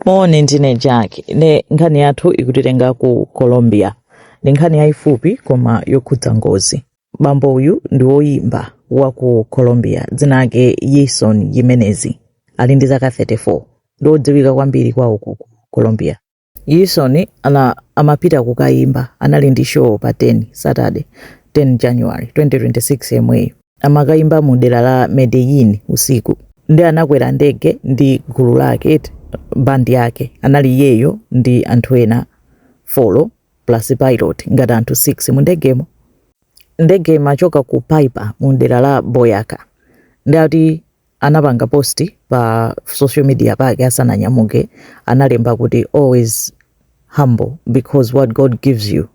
Moni, ndine Jack. Ne nkhani yathu ikutitenga ku Colombia. Ndi nkhani yayifupi koma yokhudza ngozi. Bambo uyu ndi woyimba wa ku Colombia, dzina lake Yeison Jimenez. Ali ndi zaka 34. Ndi wodziwika kwambiri kwawoku ku Colombia. Yeison amapita kukayimba, anali ndi show pa 10 Saturday, 10 January 2026 yemweyo. amakayimba mu dera la Medellin usiku ndi anakwera ndege ndi gulu lake bandi yake anali iyeyo ndi anthu ena 4 plus pilot ngati anthu 6 mu ndegemo ndege imachoka ku Paipa mu dera la Boyacá ndi ati anapanga post pa social media pake asananyamuke analemba kuti always humble because what God gives you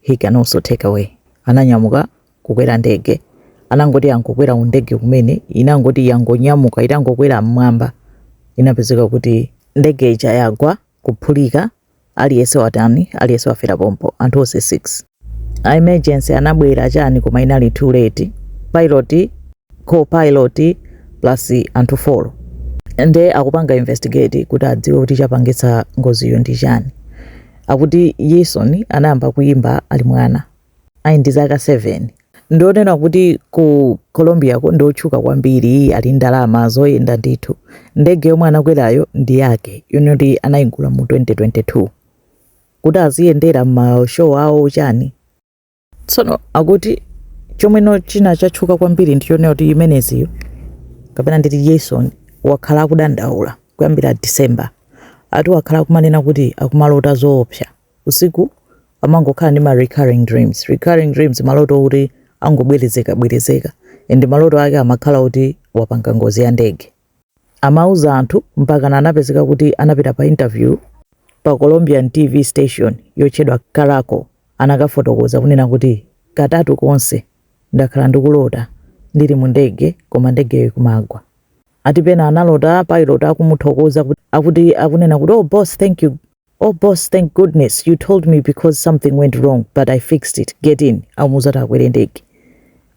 he can also take away ananyamuka kukwera ndege anangoti yangokwera ndege kumene inangoti yangonyamuka itangokwera mmwamba inapezeka kuti ndege ija yagwa kuphulika Aliyese watani? Aliyese wafera pompo. Anthu onse 6. A emergency anabwera chani koma inali too late. Pilot, co-pilot plus anthu 4. Nde akupanga investigate kuti adziwe kuti chapangitsa ngoziyo ndi chani. Akuti Yeison anayamba kuyimba ali mwana. Ali ndi zaka 7. Ndi zonena kuti ku Colombiako ndi otchuka kwambiri, ali ndi ndalama zoyenda ndithu. Ndege yomwe anakwerayo ndi yake, yoti anaigula mu 2022. Kuti aziyendera m'ma show awo chani. Tsono akuti chomweno china chatchuka kwambiri ndi chonena kuti Jimenezyu, kapena nditi Yeison, wakhala akudandaula kuyambira December. Ati wakhala akumanena kuti akumalota zoopsa. usiku amangokhala ndi ma recurring dreams. Recurring dreams maloto oti angobwerezekabwerezeka and maloto ake amakhala oti wapanga ngozi ya ndege. Amauza anthu mpakana anapezeka kuti anapita pa interview pa Colombian TV station yotchedwa Caracol anakafotokoza kunena kuti katatu konse ndakhala ndikulota ndili mu ndege koma ndegeyo ikumagwa. Ati pena analota pilot akumuthokoza kuti akuti akunena kuti oh boss thank you Oh boss thank goodness you told me because something went wrong but I fixed it get in amuuza kuti akwere ndege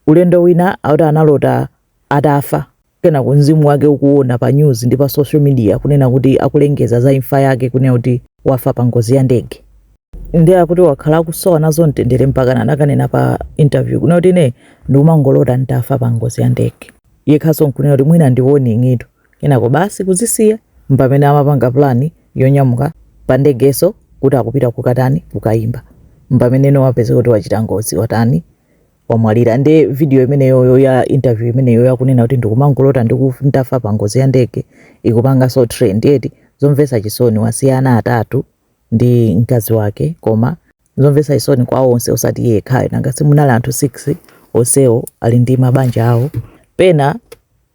ulendo wina akuti analota atafa kenako mzimu wake ukuona pa news ndi pa social media kunena kuti akulengeza za imfa yake kunena kuti wafa pa ngozi ya ndege nde akuti wakhala akusowa nazo mtendere mpaka anakanena pa interview kunena kuti ine ndikumangolota nditafa pa ngozi ya ndege yekhaso nkunena kuti mwina ndione ng'ito Kenako basi kuzisiya mpomwe amapanga plan yonyamuka pa ndegeso kuti akupita kukatani kukayimba mpameneno wapezeka kuti wachita ngozi watani wamwalira nde video imeneyoyo ya interview imeneyo yakunena kuti ndikumangolota ndiku ndafa pa ngozi ya ndege ikupangaso trend eti zomvesa chisoni wasiya ana atatu ndi mkazi wake koma zomvetsa chisoni kwa onse osati iye yekhayo nanga si munali anthu 6 onsewo ali ndi mabanja awo pena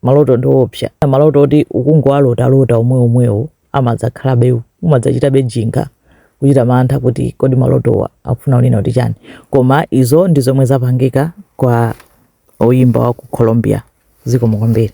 maloto ndi oopsa maloto oti ukungowalotalota omweomwewo amadzakhalabe umadzachitabe jinga kuchita mantha kuti kodi malotowa akufuna kunena kuti chani koma izo ndi zomwe zapangika kwa oyimba wa ku colombia zikomo kwambiri